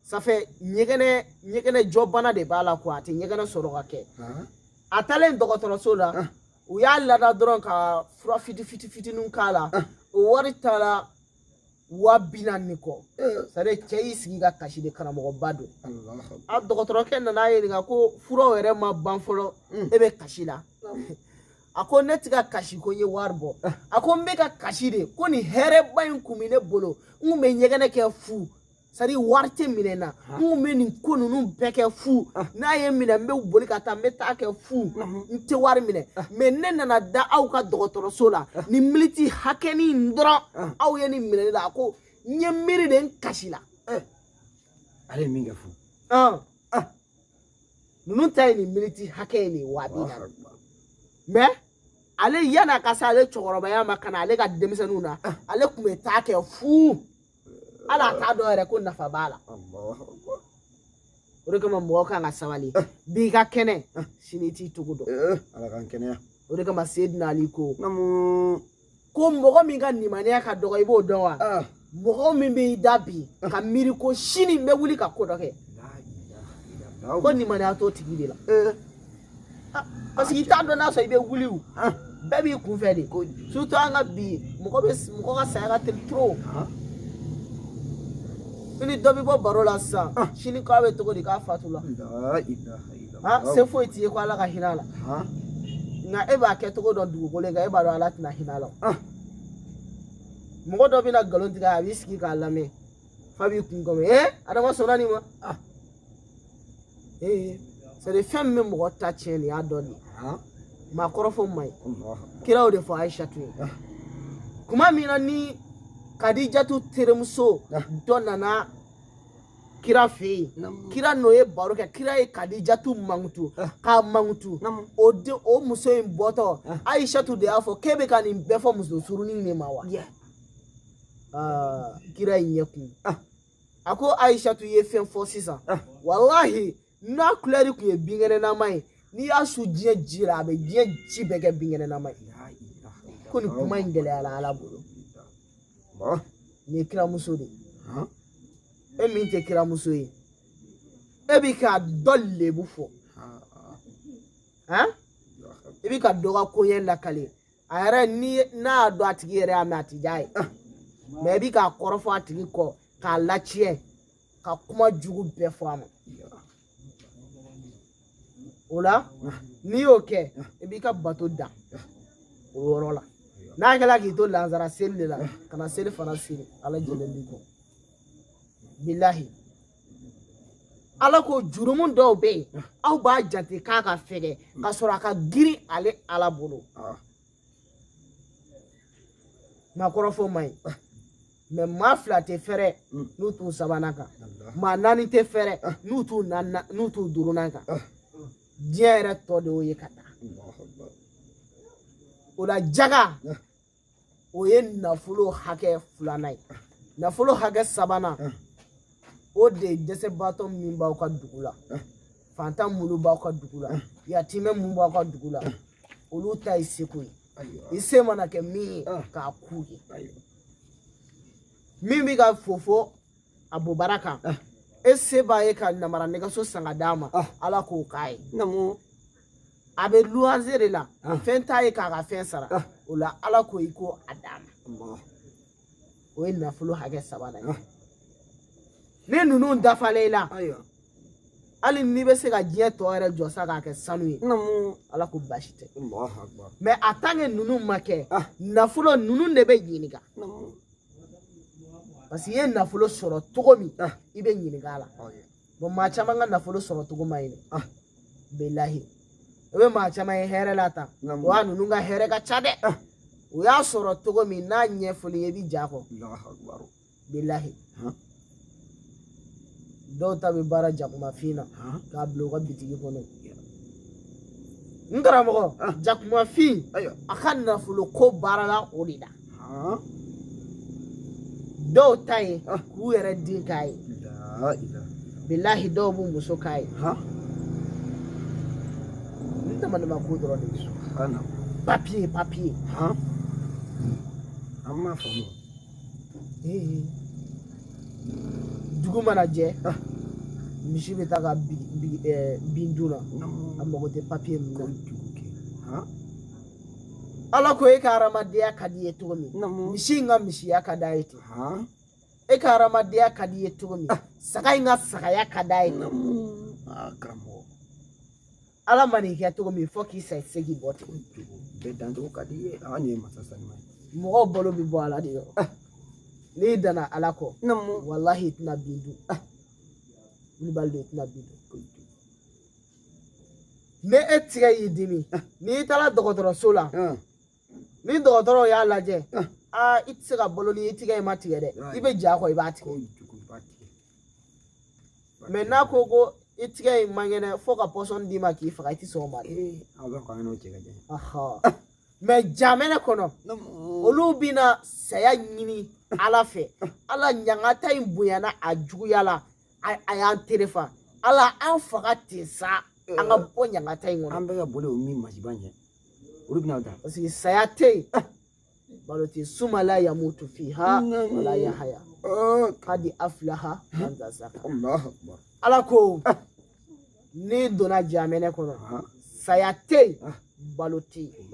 ça fait ɲɛgɛnɛ ɲɛgɛnɛ jɔbana de b'a la quoi a tɛ ɲɛgɛnɛ sɔrɔ ka kɛ a taalen dɔgɔtɔrɔso la u y'a lada dɔrɔn ka fura fiti fiti fitiniw k'a la o wari taara waa bi naani ni kɔ c'est-à-dire cɛ y'i sigi ka kasi de karamɔgɔba don a dɔgɔtɔrɔkɛ nana a ɲininka ko furaw yɛrɛ ma ban fɔlɔ e bɛ kasi la a ko ne tɛ ka kasi ko n ye wari bɔ a ko n bɛ ka kasi de ko nin hɛrɛba in kun bɛ ne bolo n kun bɛ ɲɛgɛnɛ kɛ fu c'est-à-dire wari tɛ minɛ na n kun bɛ nin ko ninnu bɛɛ kɛ fu ah. n'a ye n minɛ n bɛ boli ka taa n bɛ taa kɛ fu n tɛ wari minɛ ah. mais ne nana da aw ka dɔgɔtɔrɔso la ah. nin miniti hakɛnin dɔrɔn aw ye nin minɛ ne la a ko n ye miiri de n kasila eh. ale ye min kɛ fu ninnu ta ye nin miniti hakɛ ye nin waa bi naani mais ale yan'a ka se ale cɛkɔrɔbaya ma ka na ale ka denmisɛnninw na ale tun bɛ taa kɛ fu ala a t'a dɔn yɛrɛ ko nafa b'a la o de kama mɔgɔ kan ka sabali eh. bi i ka kɛnɛ eh. sini i t'i cogo dɔn eh, ala k'an kɛnɛya o de kama sedina ali ko ko mɔgɔ min ka nimaniya ka dɔgɔ i b'o dɔn wa ah. mɔgɔ min bɛ i da bi ah. ka miiri ko sini n bɛ wuli ka ko dɔ kɛ ko nimaniya t'o tigi de la ah, parce que i t'a dɔn n'a sɔrɔ i bɛ wuli o ah. bɛɛ b'i kunfɛ de surtout an ka bi mɔgɔ bɛ mɔgɔ ka saya ka teli trop ah. i ni dɔ bɛ bɔ baro la sisan sini k'a bɛ cogo di k'a fatula se foyi t'i ye ko ala ka hinɛ a la nka e b'a kɛcogo dɔn dugukolo in kan e b'a dɔn ala tɛna hinɛ a la mɔgɔ dɔ bɛna nkalon tigɛ a b'i sigi k'a lamɛn fa b'i kun kɔmi ee adama sɔnna nin ma ee c'est-à-dire fɛn min bɛ mɔgɔ ta tiɲɛ nin y'a dɔn de maakɔrɔfɔ man ɲi kira y'o de fɔ ayisatu ye kuma min na ni kadijatu terimuso dɔ nana kira fɛ yen kira n'o ye baro kɛ kira ye kadijatu mankutu k'a mankutu o muso in bɔtɔ ayisatu de y'a fɔ k'e bɛ ka nin bɛɛ fɔ muso surunin de ma wa kira y'i ɲɛ kun a ko ayisatu ye fɛn fɔ sisan ah. walahi n'a kulɛri tun ye binkɛnɛnama ye n'i y'a su diɲɛ ji la a bɛ diɲɛ ji bɛɛ kɛ binkɛnɛnama ye ko nin kuma in gɛlɛyara ala bolo nin ye kiramuso de ye e min tɛ kiramuso ye e bi ka dɔ lebu fɔ i bi ka dɔ ka koɲɛ lakale a yɛrɛ n'a y'a dɔn a tigi yɛrɛ y'a mɛn a ti diya a ye mais i bi k'a kɔrɔfɔ a tigi kɔ k'a latiɲɛ ka kuma jugu bɛɛ fɔ a ma o la n'i y'o kɛ i b'i ka bato dan o yɔrɔ la n'a kɛra k'i to lansara seli de la kana seli fana seli ala jɛlen b'i kɔ bilahi ala ko jurumu dɔw bɛ yen ah. aw b'a jate k'a ka fɛgɛ hmm. ka sɔrɔ a ka girin ale ala bolo ah. maakɔrɔfɔ man ɲi ah. mais maa fila tɛ fɛrɛ hmm. n'u t'u sabanan kan maa naani tɛ fɛrɛ n'u t'u duurunan kan diɲɛ yɛrɛ tɔ de y'o ye ka taa o la jaga o ye nafolo hakɛ filanan ye nafolo hakɛ sabanan o de ye dɛsɛbaatɔ min b'aw ka dugu la faantan minnu b'aw ka dugu la yatimɛ minnu b'aw ka dugu la olu ta ye seko ye i se mana kɛ min ye k'a k'u ye min bɛ ka fofo a bobara kan ah. e se b'a ye ka namara nɛgɛso san ka d'a ma ah. ala k'o k'a ye namu a bɛ luwanze de la ah. fɛn t'a ye k'a ka fɛn sara o la ala ko i ko a d'a ma o ye nafolo hakɛ sabanan ye ni ninnu dafalen i la hali n'i bɛ se ka diɲɛ tɔ yɛrɛ jɔ sa k'a kɛ sanu ye ala ko baasi tɛ mais a tant que ninnu ma kɛ nafolo ninnu de bɛ ɲininka parce que i ye nafolo sɔrɔ cogo min ah. i bɛ ɲininka a la oh, bon maa caman ka nafolo sɔrɔ cogo man ɲi ah. bilahi i bɛ maa caman ye hɛrɛ la tan wa ninnu ka hɛrɛ ka ca dɛ ah. u y'a sɔrɔ cogo min n'a ɲɛfɔl'i ye i bɛ j'a kɔ bilahi dɔw ta bɛ baara jakumafin na k'a bila u ka bitigi kɔnɔ n karamɔgɔ jakumafin a ka nafolo ko baarala o de la dɔw ta ye k'u yɛrɛ den k'a ye bilahi dɔw b'u muso k'a ye hadamaden mako dɔrɔn de bɛ so papiye papiye an m'a faamu dugu mana jɛ misi bɛ taa ka bin dun na a mago tɛ papiye min na ala ko e ka hadamadenya ka d'i ye cogo min misi in ka misiya ka d'a ye ten e ka hadamadenya ka d'i ye cogo min saga in ka sagaya ka d'a ye ten karamɔgɔ ala man'i kɛ cogo min fo k'i sa se k'i bɔ ten bɛɛ dancogo ka di i ye an ye masa sanima ye mɔgɔw balo bɛ bɔ ala de yɔrɔ ah. n'i danna ala kɔ walahi i tɛna bin dun ah. wulibali de i tɛna bin dun ni e tigɛ y'i dimi ah. n'i taara dɔgɔtɔrɔso la ni dɔgɔtɔrɔw y'a lajɛ aa i tɛ se ka balo ni i tigɛ in ma tigɛ dɛ i bɛ jɛn ko i b'a tigɛ mɛ n'a ko ko i tigɛ in man kɛnɛ fo ka pɔsɔn d'i ma k'i faga i tɛ sɔn o ma dɛ mɛ jamɛnɛ kɔnɔ olu bɛna saya ɲini ala fɛ ala ɲangata in bonyana a juguyala a y'an terefa ala an faga ten sa an ka bɔ ɲangata in kɔnɔ an bɛ ka boli o min masiba ɲɛ olu bɛna ta parce que saya tɛ yen ah. balo tɛ suma la yamutu fiha wala yahaya ah. kadi aflaha man tazaka ala ko ah. n'i donna jamɛnɛ kɔnɔ saya tɛ yen balo tɛ yen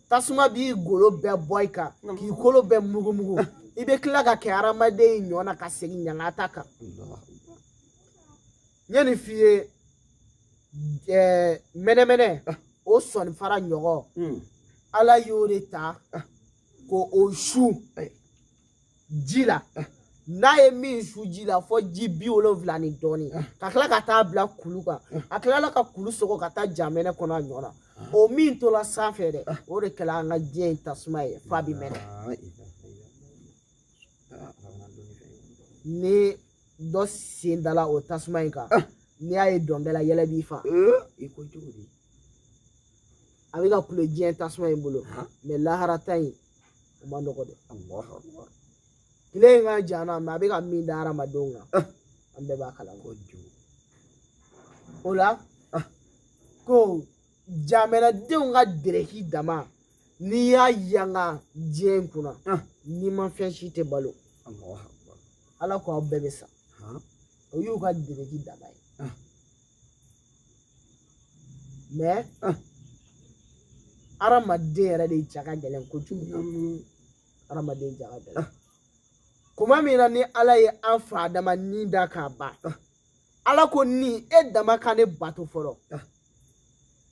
tasuma b'i golo bɛɛ bɔ i kan k'i kolo bɛɛ mugumugu i bɛ tila ka kɛ hadamaden ɲɔ na ka segin ɲangata kan n ye nin f'i ye ɛɛ mɛnɛmɛnɛ ah. o sɔninfara ɲɔgɔn hmm. ala y'o de ta ah. ko o su ji la ah. n'a ye min su ji la fo ji biwolonfila ni dɔɔni ka tila ka taa bila kulu kan a tilala ka kulu sɔgɔ ka taa jamɛnɛ kɔnɔ a ɲɔ na o min tola sanfɛ dɛ o de kɛla an ka diɲɛ in tasuma ye f'a bi mɛnɛ ni dɔ sen dala o tasuma in kan n'i y'a ye dɔnkɛ la yɛlɛ b'i fa i ko cogo di a bɛ ka kulo diɲɛ tasuma in bolo mɛ lahara ta in o ma nɔgɔ dɛ tile in ka jan na mɛ a bɛ ka min da hadamadenw kan an bɛɛ b'a kalama o la ko jamanadenw ka dereki dama n'i y'a yanga diɲɛ in kunna nimafɛn si tɛ balo ala ko aw bɛɛ bɛ sa o y'u ka dereki dama ye mɛ hadamaden yɛrɛ de ja ka gɛlɛn kojugu hadamaden ja ka gɛlɛn kuma min na ni ala ye an fa adama ni da k'a ban ala ko ni e dama ka ne bato fɔlɔ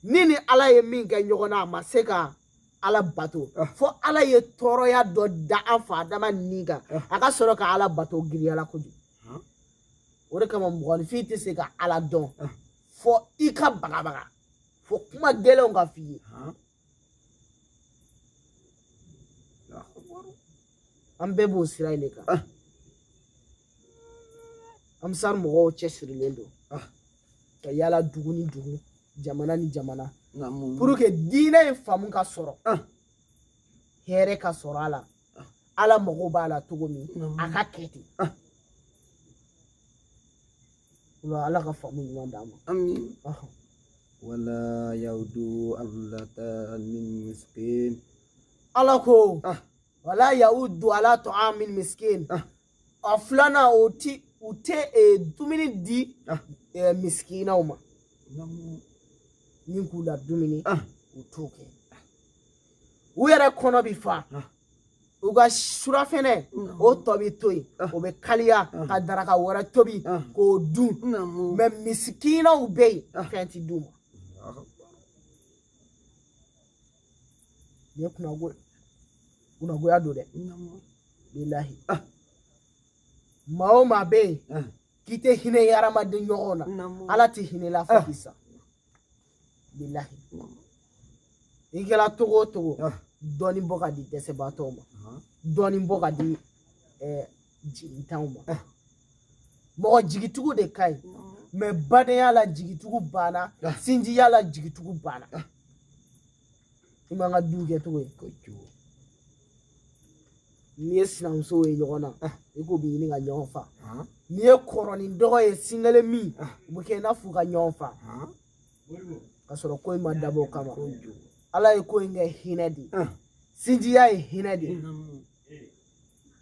ni ni ala ye min kɛ ɲɔgɔn na a ma se ka ala bato ah. fo ala ye tɔɔrɔya dɔ da an fa adama ni kan ah. a ka sɔrɔ ka ala bato giriyala kojugu ah. o de kama mɔgɔninfin tɛ se ka ala dɔn fo i ka bagabaga fo kuma gɛlɛnw ka f'i ye an bɛɛ b'o sira in de kan ah. ansari mɔgɔw cɛsirilen don ah. ka yala dugu ni dugu jamana ni jamana pour que diinɛ in faamu ka sɔrɔ ah. hɛrɛ ka sɔrɔ a la ala mago b'a la cogo min a ka kɛ ten Wala ala ka faamu ɲuman d'an ma amin Ɔhɔn. wala yawudu ala ta'amin miskin ala ko ah wala yaudu ala ta'amin miskin ah a filanan o ti u tɛ eh, dumuni di ah eh, misikinaw ma namu min k'u la dumuni ah u t'o kɛ u yɛrɛ kɔnɔ bi fa ah u ka surafɛnɛ o tɔ bɛ to yen o bɛ kaliya ka daraka wɛrɛ tobi k'o dun mɛ misikinaw bɛ yen fɛn ti d'u ma nin ye kunnago kunnagoya don dɛ bilahi maa o maa bɛ yen k'i tɛ hinɛ i hadamaden ɲɔgɔn na ala tɛ hinɛ i la fo k'i sa bilahi i kɛra cogo o cogo ah. dɔɔnin bɔ ka di dɛsɛbaatɔw ma ah. dɔɔnin bɔ ka di eh, jigitanw ma ah. mɔgɔ jigitugu de ka ɲi mɛ badenya la jigitugu banna sinjiya la jigitugu banna i m'an ka du kɛ cogo ye ko cogo n'i ye sinamusow ye ɲɔgɔn na ah. i k'u bɛ ɲini ka ɲɔgɔn fa ah. n'i ye kɔrɔ ni dɔgɔ ye sin kelen min u ah. bɛ kɛ i n'a fɔ u ka ɲɔgɔn fa ka sɔrɔ ko in ma dabɔ o kama ala ye ko in kɛ hinɛ de sinjiya ye hinɛ de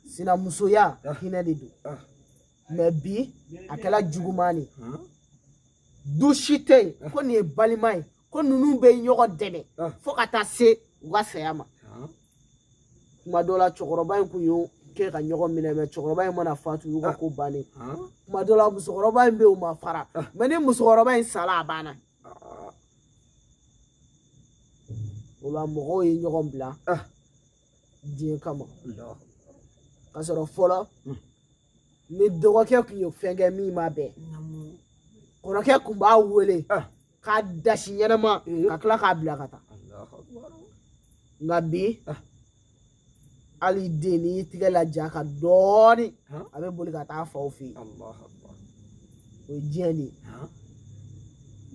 sinamusoya hinɛ de don mɛ bi a kɛra juguman ye du si tɛ yen ko nin ye balima ye ko ninnu bɛ ɲɔgɔn dɛmɛ ah. fo ka taa se u ka saya ma ah. kuma dɔ la cɛkɔrɔba in kun y'o kɛ ka ɲɔgɔn minɛ mɛ cɛkɔrɔba in mana fatu y'u ka ah. ko bannen kuma dɔ la musokɔrɔba in bɛ yen u ma fara mɛ ni musokɔrɔba in sala a banna o la mɔgɔw ye ɲɔgɔn bila diɲɛ kama ka sɔrɔ fɔlɔ hmm. ni dɔgɔkɛ kun ye fɛn kɛ min ma bɛn kɔrɔkɛ kun b'a wele ah. k'a dasi ɲɛnama eh. ka tila k'a bila ka taa nka bi ah. hali den n'i y'i tigɛ laja ka dɔɔni ah. a bɛ boli ka taa faw fɛ yen o ye diɲɛ de ye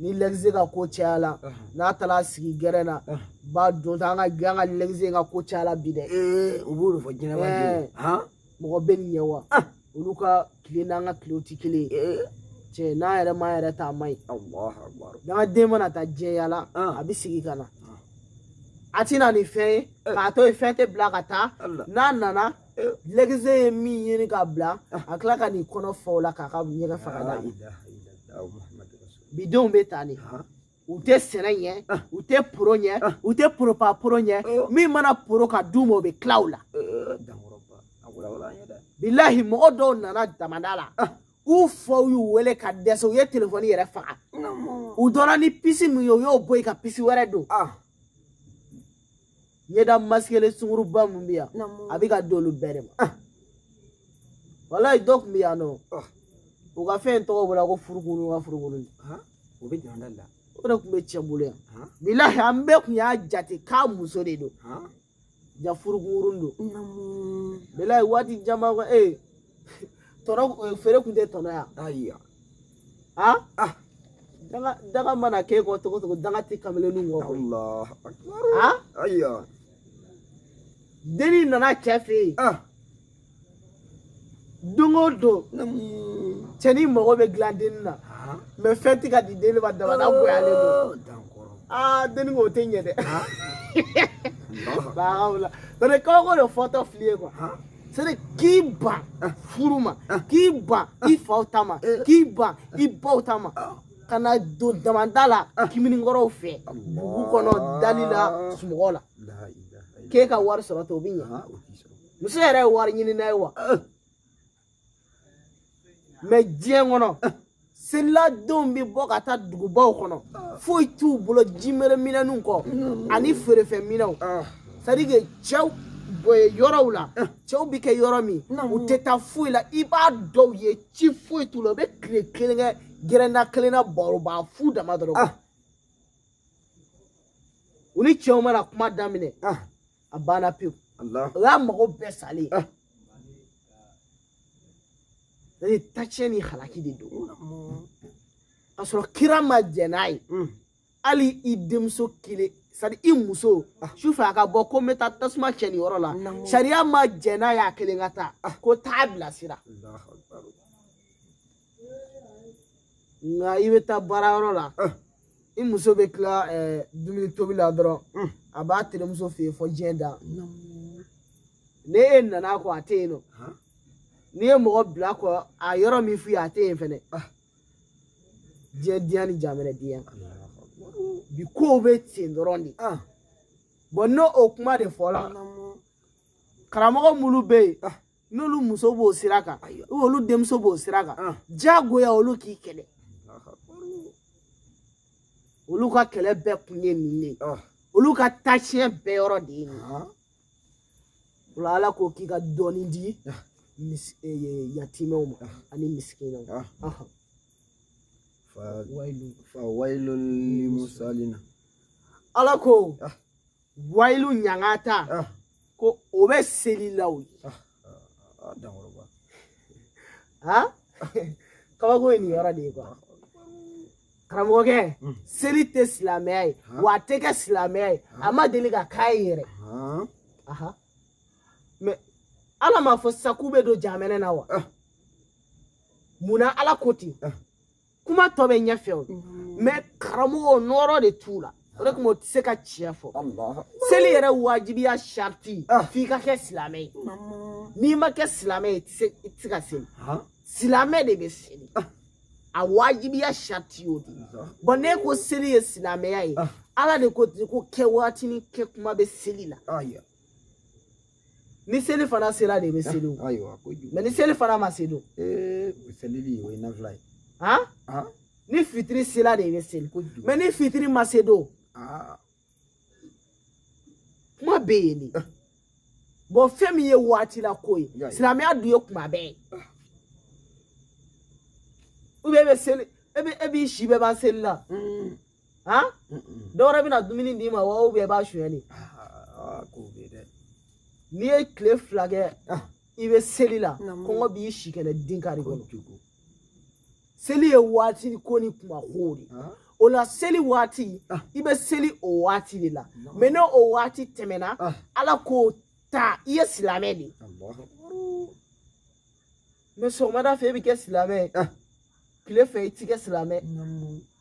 ni lɛgise ka ko cayala n'a taara sigi gɛrɛn na ba don ta an ka an ka lɛgise ka ko cayala bi dɛ eh, u b'o de fɔ jɛnɛba den eh. mɔgɔ bɛ nin ɲɛ wa ah. olu ka tile n'an ka tile tɛ kelen ye eh. cɛ n'an yɛrɛ m'an yɛrɛ ta a man ɲi n'an ka den mana taa diɲɛ yala ah. a bɛ segin ka na ah. a tɛ na ni fɛn ye eh. k'a to yen fɛn tɛ bila ka taa n'a nana eh. lɛgise ye min ɲini ka bila a tila ka n'i kɔnɔ fɔ o la k'a ka ɲɛgɛn faga d'a ma bidenw bɛ ta de u tɛ sɛnɛ ɲɛ ah. u tɛ poro ɲɛ ah. u tɛ poropa poro ɲɛ oh. min mana poro ka d'u ma o bɛ tila u la bilahi mɔgɔ dɔw nana damada la ah. u faw y'u wele ka dɛsɛ u ye telefɔni yɛrɛ faga u dɔnna ni pisi min ye u y'o bɔ yen ka pisi wɛrɛ don ɲɛda masikelen sunguruba mun bɛ yan a bɛ ka d'olu bɛɛ de ma ah. walayi dɔ tun bɛ yan nɔ ah. u ka fɛn tɔgɔ bɔra ko furukuru ka furukuru ah. o bɛ jɔn da la o de tun bɛ cɛ bolo yan bilahi an bɛɛ tun y'a jate k'a muso de don ja furukuru don bilahi waati caman ko ee tɔnɔ feere tun tɛ tɔnɔ yan ah ah danga danga mana k'e kɔ togo togo danga tɛ kameleni kɔ koyi allah akbar ah ayiwa denni nana cɛ fɛ yen ah don o don cɛnin mago bɛ dilan denni na ah mɛ fɛn tɛ ka di denni ma damada goyalen don oh, dankɔrɔ ah denni ko o tɛ ɲɛ dɛ ah allah baabu la tɔnɔ kabako de fɔtɔ fili ye kuwa ah sɛ de k'i ban ah. furu ma ah. k'i ban ah. i faw ta ma eh. k'i ban i baw ta ma ka na don damada la kiminikɔrɔw fɛ dugu kɔnɔ dali la sunɔgɔ la k'e ka wari sɔrɔ ten o bɛ ɲɛ muso yɛrɛ ye wari ɲini n'a ye wa mɛ diɲɛ kɔnɔ seliladenw bɛ bɔ ka taa dugubaw kɔnɔ foyi t'u bolo jimereminɛninw kɔ ani feerefɛnminɛw sadi ke cɛw yɔrɔw la cɛw bɛ kɛ yɔrɔ min u tɛ taa foyi la i b'a dɔw ye ci foyi t'u la u bɛ tile kelen kɛ gɛrɛnda kelen na baroba fu dama dɔrɔn u ni cɛw mana kuma daminɛ a banna pewu o y'a mago bɛɛ salen tacɲɛ ni halaki de don ka sɔrɔ kira ma jɛn n'a ye hali i denmuso kelen sadi i muso su fɛ a ka bɔ ko n bɛ taa tasuma cɛ nin yɔrɔ la sariya ma jɛn n'a ye a kelen ka taa ko taa bilasira nka i bɛ taa baarayɔrɔ la i muso bɛ tila dumuni tobi la dɔrɔn a b'a terimuso fɛ yen fo diɲɛ da ne e nana kɔ a tɛ yen nɔ n'i ye mɔgɔ bila kɔ a yɔrɔ min f'i ye a tɛ yen fɛnɛ diɲɛ diya ni jamana diya bi kow bɛ ten dɔrɔn de bɔn n'o o kuma de fɔra karamɔgɔ minnu bɛ yen n'olu muso b'o sira kan olu denmuso b'o sira kan ah. diyagoya olu k'i kɛlɛ olu ka kɛlɛ bɛɛ kun ye nin de ah. olu ka taasiyɛ bɛɛ yɔrɔ de ye nin ah. o la ala ko k'i ka dɔɔni di eh, yatimɛw ma ani misikinɛw fa wayilu limusalina ala ko wayilu ɲangata ah. ko o bɛ selilaw ye ah, ah, dankɔrɔba kabako ye nin yɔrɔ de ye kuwa karamɔgɔkɛ hmm. seli tɛ silamɛya ye wa a tɛ kɛ silamɛya ye a ma deli ka k'a ye yɛrɛ mɛ ala m'a fɔ sa k'u bɛ don jahanama na wa mun na ala ko ten kuma tɔ bɛ ɲɛfɛ o mɛ karamɔgɔ nɔɔrɔ de t'u la o de kama o tɛ se ka tiɲɛ fɔ seli yɛrɛ wajibiya sariti ah. f'i ka kɛ silamɛ ye n'i ma kɛ silamɛ ye i tɛ se ka seli silamɛ de bɛ seli ah. a wajibiya sariti y'o de ye bɔn n'e ko seli ye silamɛya ye ah. ala de ko ko kɛ waati ni kɛ kuma bɛ seli la ni selifana sera de bɛ seli o ayiwa ko jugu mɛ ni selifana ma se dun ee o selili o ye nafila ye han han ni fitiri sera de bɛ seli ko jugu mɛ ni fitiri ma se dun aa kuma bɛ yen de bɔn fɛn min ye waati la ko ye Ya ye. silamɛya dun ye kuma bɛɛ ye ubiyɛn e bɛ seli e bɛ e b'i si bɛɛ ban seli la un han dɔw wɛrɛ bɛna dumuni d'i ma wa ubiyɛn i b'a suɲɛ de ah, k'o bɛ dɛ n'i ye tile fila kɛ ah. i bɛ seli la kɔngɔ b'i si kɛnɛ de kari kɔnɔ seli ye waati ko ni kuma ko de ah. o la seli waati i bɛ seli o waati de la mɛ n'o o waati tɛmɛna ala k'o ta i ye silamɛ de mɛ sɔgɔmada fɛ i bɛ kɛ silamɛ tile fɛ i ti kɛ silamɛ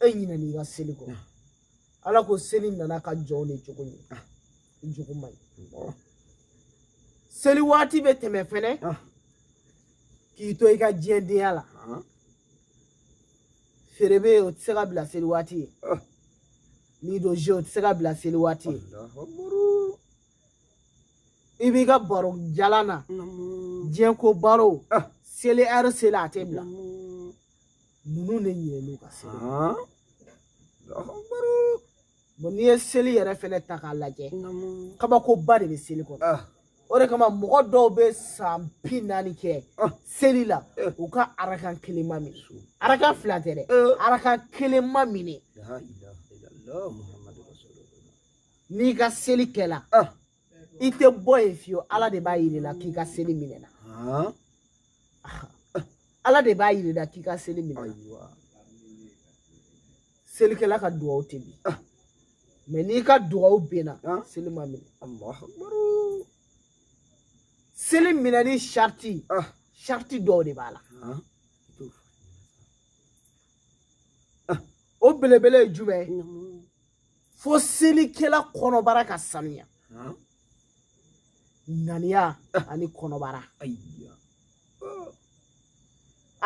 e ɲinɛna i ka seli kɔ ala ko seli nana ka jɔw de jogo ye i jogo man ɲi seli waati bɛ tɛmɛ fɛnɛ k'i to i ka diɲɛdenya la feere bɛ yen o tɛ se ka bila seli waati ye n'i don ze o tɛ se ka bila seli waati ye i b'i ka baro jalan na diɲɛ ko baro seli ɛri selen a tɛ bila ninnu de ɲinɛn'u ka seli bɔn n'i ye seli yɛrɛ fɛnɛ ta k'a lajɛ kabakoba de bɛ seli kɔnɔ ah. o de kama mɔgɔ dɔw bɛ san bi naani kɛ ah. seli la eh. u ka arakan kelen ma minɛ arakan fila tɛ dɛ eh. arakan kelen ma minɛ n'i ka seli kɛla ah. i tɛ bɔ yen fiyewu ala de b'a yir'i la k'i ka seli minɛna ala de b'a yir'i la k'i ka seli minɛna selikɛla ka dugawu tɛ bin mɛ n'i ka dugawu binna seli ma minɛ seli minɛni sarati sarati dɔw de b'a la o belebele ye jumɛn ye fo selikɛla kɔnɔbara ka sanuya ŋaniya ani kɔnɔbara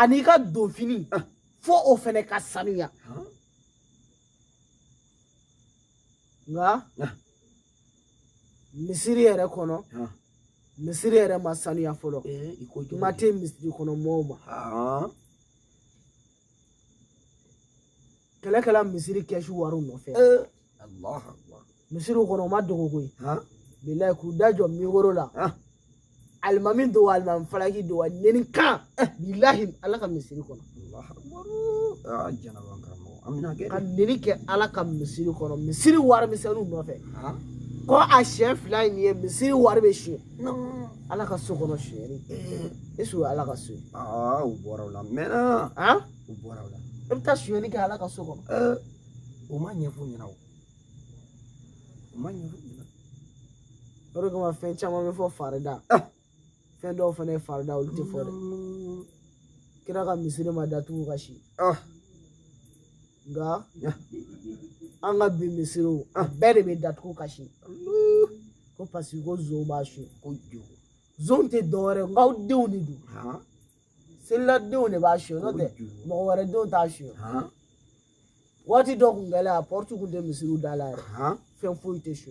ani i ka donfini fo o fɛnɛ ka sanuya nka misiri yɛrɛ kɔnɔ misiri yɛrɛ ma sanuya fɔlɔ kuma tɛ misiri kɔnɔ mɔɔw ma kɛlɛ kɛla misiri kɛsu wariw nɔfɛ misiriw kɔnɔ o ma dogo koyi bilayi k'u da jɔ mikoro la alimami don wa alimami falaki don wa neni kan bilahi ala ka misiri kɔnɔ ka neni kɛ ala ka misiri kɔnɔ misiri wari misɛnninw nɔfɛ ko a siɲɛ fila in ye misiri wari bɛ sonyɛ ala ka so kɔnɔ sonyɛli e su ala ka so aa u bɔra o la mɛnna u bɔra o la e bɛ taa sonyɛli kɛ ala ka so kɔnɔ o ma ɲɛfɔ ɲɛna o o ma ɲɛfɔ ɲɛna o de kama fɛn caman bɛ fɔ farida fɛn dɔw fana ye farida olu tɛ fɔ dɛ kira ka misiri ma datugu ka si nka an ka bi misiriw a bɛɛ de bɛ datugu ka si ko paseke ko zon b'a su ko jugu zon tɛ dɔwɛrɛ ye nk'aw denw de don seliladenw de b'a su n'o tɛ mɔgɔ wɛrɛ denw t'a su waati dɔ kun kɛlen a pɔrɔti kun tɛ misiriw da la yɛrɛ fɛn foyi tɛ su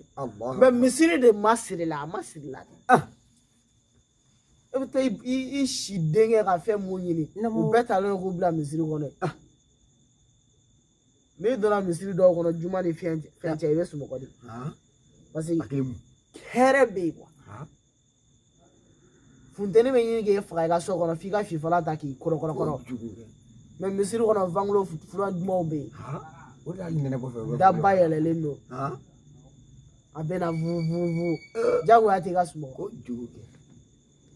mɛ misiri de masirila a masirila dɛ. e bɛ taa i si denkɛ ka fɛn mun ɲini u bɛɛ talen don k'u bila misiri kɔnɔ ah. n'i donna misiri dɔw kɔnɔ juma ni fɛn fɛn cɛ i bɛ sunɔgɔ de ah. parce que hɛrɛ bɛ yen kuwa ah. funteni bɛ ɲini k'e faga i ka so kɔnɔ f'i ka fifalan ta k'i kɔrɔkɔrɔkɔrɔ mɛ misiri kɔnɔ fangolo fura dumanw bɛ yen o de y'a ɲinɛ kɔfɛ daba yɛlɛlen don a bɛ na vuvuvu jagoya tɛ i ka sunɔgɔ ko jugu kɛ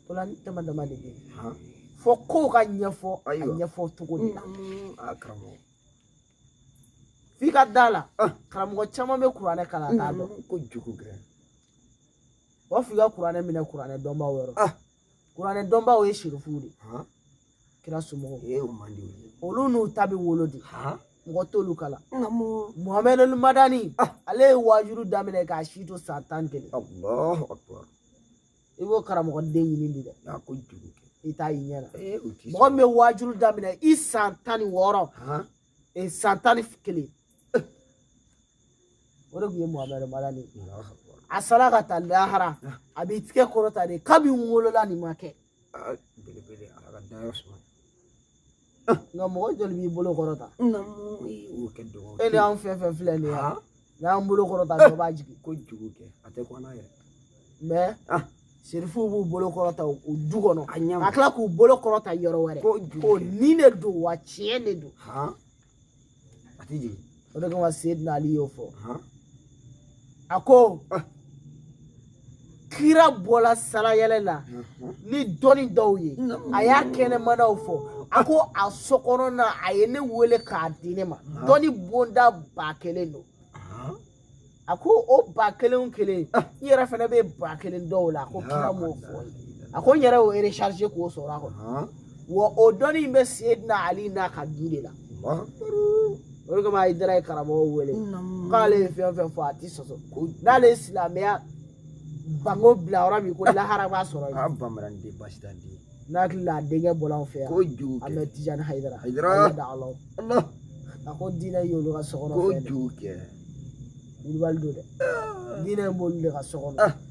o la ni dama dama de bɛ yen fo kow ka ɲɛfɔ a ɲɛfɔ cogo de la f'i ka d'a la karamɔgɔ caman bɛ kuranɛ kalan t'a dɔn ko jugu kɛ wa f'i ka kuranɛ minɛ kuranɛ dɔnbaaw yɔrɔ kuranɛ dɔnbaaw ye serifuw de kira somɔgɔw olu n'u ta bɛ wolo de mɔgɔ t'olu kalan muhamɛdu madani ah. ale ye waajuru daminɛ k'a si to san tan ni kelen i b'o karamɔgɔ den ɲini de dɛ i t'a y'i ɲɛ na mɔgɔ min bɛ waajuru daminɛ i san tan ni wɔɔrɔ ee san tan ni kelen o de tun ye muhamadu madani ye a sara ka taa lahara a b'i tigɛ kɔrɔta de kabi n wolola nin ma kɛ belebele ala ka dayɔrɔ suma nka mɔgɔ joli b'i bolo kɔrɔta o ka dɔgɔ e ni an fɛn fɛn filɛ nin ye n'an bolo kɔrɔta dɔ b'a jigin kojugu kɛ a tɛ kɔnɔ yɛrɛ mais ah. serifuw b'u bolo kɔrɔta o du kɔnɔ ka tila k'u bolo kɔrɔta yɔrɔ wɛrɛ ko nin de don wa tiɲɛ de don a tɛ jigin o de kama seyidina ali y'o fɔ a ko ah. kira bɔla salayɛlɛ la ni dɔnni dɔw ye a y'a kɛnɛmanaw fɔ a ko a sokɔnɔna a ye ne wele k'a di ne ma dɔnni bonda ba kelen don a ko o ba kelen o kelen n yɛrɛ fana bɛ ba kelen dɔw la a ko kira m'o fɔ a ko n yɛrɛ y'o recharger k'o sɔrɔ a kɔnɔ wa o dɔnni in bɛ seydina ali n'a ka du de la o de kama hayidara ye karamɔgɔw wele k'ale ye fɛn fɛn fɔ a ti sɔsɔ n'ale ye silamɛya bango bila yɔrɔ min ko lahara b'a sɔrɔ yen a bamanan de basi t'a den n'a hakili la a denkɛ bɔla anw fɛ yan kojugu an bɛ tijani hayidara hayidara da ala a ko diinɛ ye olu ka sokɔnɔ fɛn kojugu kɛ wulibali don dɛ diinɛ in b'olu de ka so kɔnɔ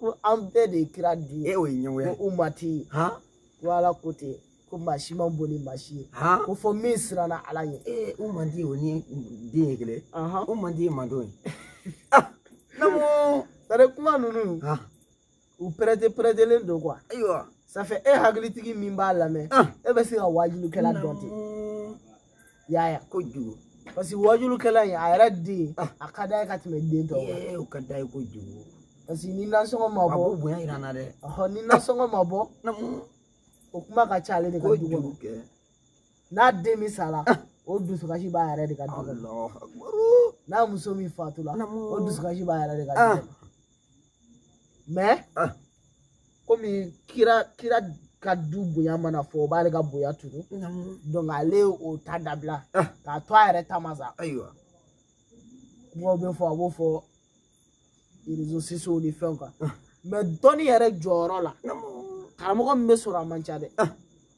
ko an bɛɛ de ye kira den ye e o ye ɲɛngoya ye ko umati ko ala ko ten ko maa si ma bon ni maa si ye ko fo min siranna ala ɲɛ ee umati o ni den ye kelen umati ye manden ye namu sare kuma ninnu u pɛrɛte pɛrɛtelen don quoi ayiwa ça fait e hakilitigi min b'a lamɛn e bɛ se ka wajilikɛla dɔn ten yaya kojugu parce que wajulukɛla in a yɛrɛ den a ka d'a ye ka tɛmɛ den tɔw kan ee o ka d'a ye kojugu parce que ni nasɔngɔ ma bɔ a b'o bonya yira n na dɛ ɔhɔ ni nasɔngɔ ma bɔ namu o kuma ka ca ale de ka du kɔnɔ kojugu kɛ n'a den min sara o dusukasi b'a yɛrɛ de ka du kɔnɔ Allahu Akbar. n'a muso min fatula Namu. o dusukasi b'a yɛrɛ de ka du Ah. kɔnɔ mais ah. komi kira ka du bonya mana fɔ o b'ale ka bonya tunu donc ale o ta dabila ah. k'a to a yɛrɛ ta ma sa ayiwa kumaw bɛ fɔ a b'o fɔ réseaux sociaux ni fɛnw kan ah. mais dɔnni yɛrɛ jɔyɔrɔ la karamɔgɔ min bɛ sɔrɔ a man ca dɛ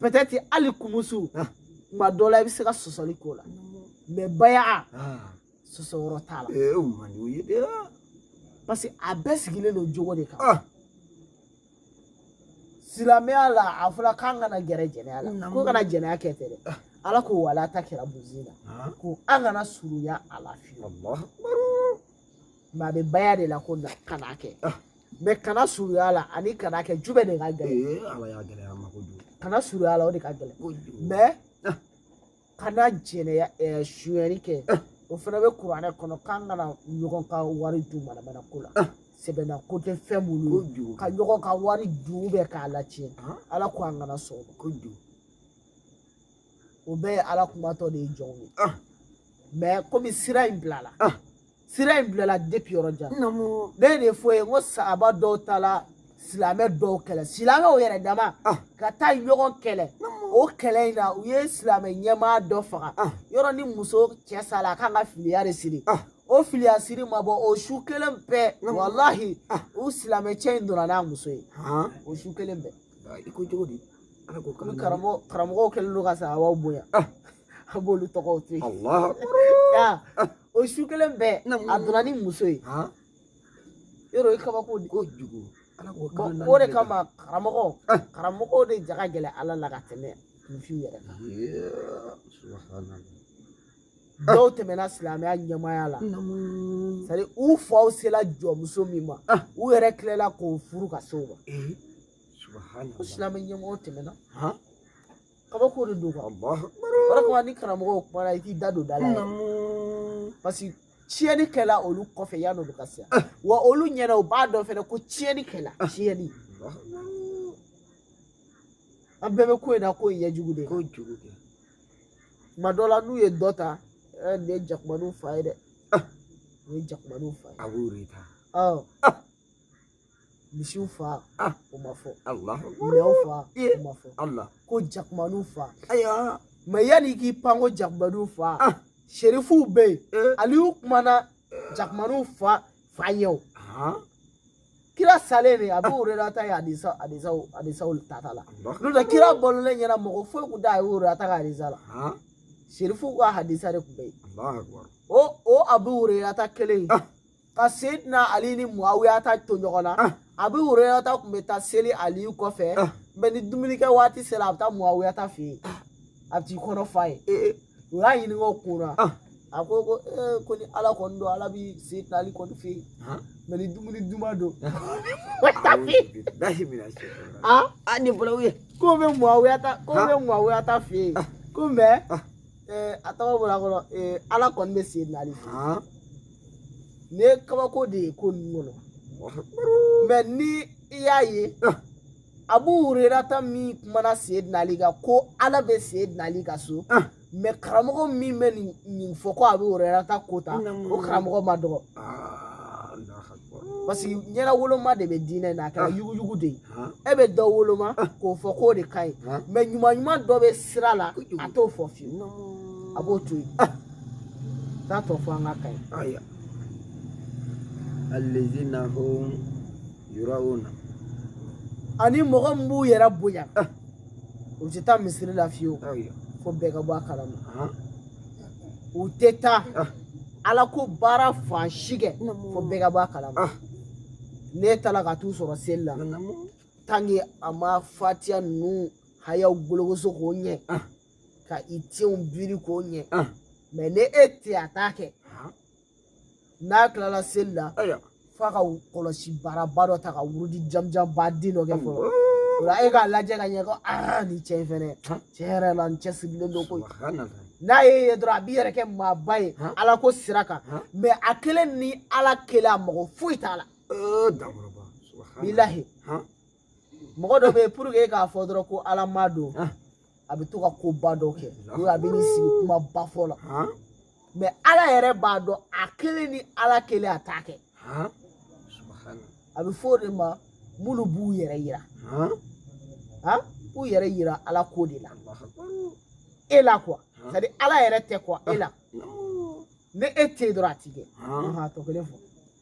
peut-être hali kumusu tuma ah. dɔ la i bɛ se ka sɔsɔli k'o la mais baya ah. sɔsɔ yɔrɔ t'a la eh, o man di o ye dɛ parce que a bɛɛ sigilen don jogo de kan ah. silamɛya la a fɔra k'an kana gɛrɛ jɛnɛya la ko kana jɛnɛya kɛ tɛ dɛ ala ko wala takrabu zina ko an kana surunya a la fiyewu mais a bɛ baya de la ko kana a kɛ mɛ kana suruya la ani kana kɛ jumɛn de ka gɛlɛn ala y'a gɛlɛya a ma ko an kana suruya la o de ka gɛlɛn mɛ ah. kana jɛnɛya eh, suyɛni kɛ ah. o fana bɛ kuranɛ kɔnɔ k'an kana ɲɔgɔn ka wari dun manamana ko la ah. sɛbɛnna ko tɛ fɛn minnu ka ɲɔgɔn ka wari dun bɛɛ k'a latiɲɛ ala ko an kana sɔn o ma o bɛɛ ye ala kumatɔ de ye jɔnw ye mɛ komi sira in bilala sira in bilala depi yɔrɔ jan ne de fɔ ye n ko sahaba dɔw ta la silamɛ dɔw kɛlɛ silamɛw yɛrɛ dama ka taa ɲɔgɔn kɛlɛ o kɛlɛ in na u ye silamɛ ɲɛmaa dɔ faga yɔrɔ ni muso cɛ sala a kan ka filiya de siri o filiya siri ma bɔ o su kelen bɛɛ walahi u silamɛ cɛ in donna n'a muso ye o su kelen bɛɛ i ko cogo di ala ko kama karamɔgɔ karamɔgɔw kɛlen don ka sahabaw bonya ah. a b'olu tɔgɔw to yen ah. o su kelen bɛɛ a donna ni muso ye yɔrɔ o ye kabako de kojugu o de kama karamɔgɔ ah. karamɔgɔw de ja ka gɛlɛn ala la ka tɛmɛ kunfinw yɛrɛ kan dɔw tɛmɛna silamɛya ɲɛmaaya la c'est-à-dire u faw sela jɔnmuso min ma ah. u yɛrɛ tilela k'o furu ka se o ma eh, ko silamɛ ɲɛmɔgɔw tɛmɛna kabako de don o de kama ni karamɔgɔw kumana i t'i da don da la yɛrɛ parce que tiɲɛni kɛla olu kɔfɛ yan'olu ka se ah. wa olu ɲɛ na u b'a dɔn fɛnɛ ko tiɲɛni kɛla ah. tiɲɛni an bɛɛ bɛ ko in na ko in ɲɛ jugu de ye ko jugu kɛ tuma dɔ la n'u ye dɔ ta ɛ nin ye jakumaniw fa ye dɛ nin ye jakumaniw fa ye abu hurairata ɔ misiw fa o ma fɔ minɛnw fa o ma fɔ ko jakumaniw fa ayiwa mɛ yanni i k'i pan ko jakumaniw fa serifuw bɛ yen aliyu kumana jakumaniw fa fa ɲɛ o kira salen de abu hurairata ye hadisa hadisaw hadisaw tata la n'o tɛ kira balolen ɲɛ na mɔgɔ foyi tun t'abu hurairata ka hadisa la serifuw ka hadisa de tun bɛ yen o o abu hurairata kelen ye ka seydina ali ni muawiyata to ɲɔgɔn na abu hurairata tun bɛ taa seli aliyu kɔfɛ mɛ ni dumunikɛ waati sera a bɛ taa muawiyata fɛ yen a bɛ t'i kɔnɔ fa yen u y'a ɲininka o kun na Ah. a ko ko ee ko ni ala kɔni don ala bi seydina ali kɔni fɛ yen Ah. mais ni dumuni duman don lahi mina se a a ni bolo ye ko bɛ muawiya ta ko Ah. bɛ muawiya ta fɛ yen Ah. ko mais Ah. ee, a tɔgɔ bɔra n kɔnɔ ee, ala kɔni bɛ seydina ali fɛ yen. ah ne kabako de ye ko ninnu kɔnɔ mais ni i y'a ye Ah. abu hurerata min kumana seydina ali kan ko ala bɛ seydina ali ka so ah. mais karamɔgɔ min bɛ nin fɔ ko abu hurerata ko ta o karamɔgɔ ma dɔgɔ ah, parce que ɲɛnawoloma de bɛ diinɛ na a kɛra ah. yuguyugu de ye e bɛ dɔ woloma k'o fɔ k'o de ka ɲi mais ɲuman ɲuman dɔ bɛ sira la a t'o fɔ fiyewu a b'o to yen t'a tɔ fɔ an ka ka ɲi. الذين هم yurauna ani mɔgɔ min b'u yɛrɛ bonya ah. u tɛ taa misiri la fiyewu fo bɛɛ ka bɔ a kalama u tɛ taa ah. ala ko baara fan si kɛ fo bɛɛ ka bɔ a kalama ah. ne taara ka t'u sɔrɔ seli la tant que a ma fatiya ninnu hayaw gologoso k'o ɲɛ ka i tenw biri k'o ɲɛ mais ni e tɛ a t'a kɛ n'a tilala seli la f'a ka kɔlɔsi baaraba dɔ ta ka wurudi jamanjanba den dɔ kɛ fɔlɔ o la e k'a lajɛ ka ɲɛ ko aa nin cɛ in fɛnɛ tiɲɛ yɛrɛ la n cɛsirilen don koyi n'a y'e ye dɔrɔn a b'i yɛrɛ kɛ maaba ye ala ko sira kan mais a kelen ni ala kelen a mako foyi t'a la bilahi mɔgɔ dɔ bɛ yen pour que e k'a fɔ dɔrɔn ko ala maa don a bɛ to ka koba dɔ kɛ ou a bɛ n'i sigi kumaba fɔ la mais ala yɛrɛ b'a dɔn a kelen ni ala kelen a t'a kɛ a bɛ fɔ o de ma minnu b'u yɛrɛ yira k'u yɛrɛ yira ala ko de la e la quoi c'est à dire ala yɛrɛ tɛ quoi e la ni e tɛ yen dɔrɔn a t'i kɛ tɔ kelen fɔ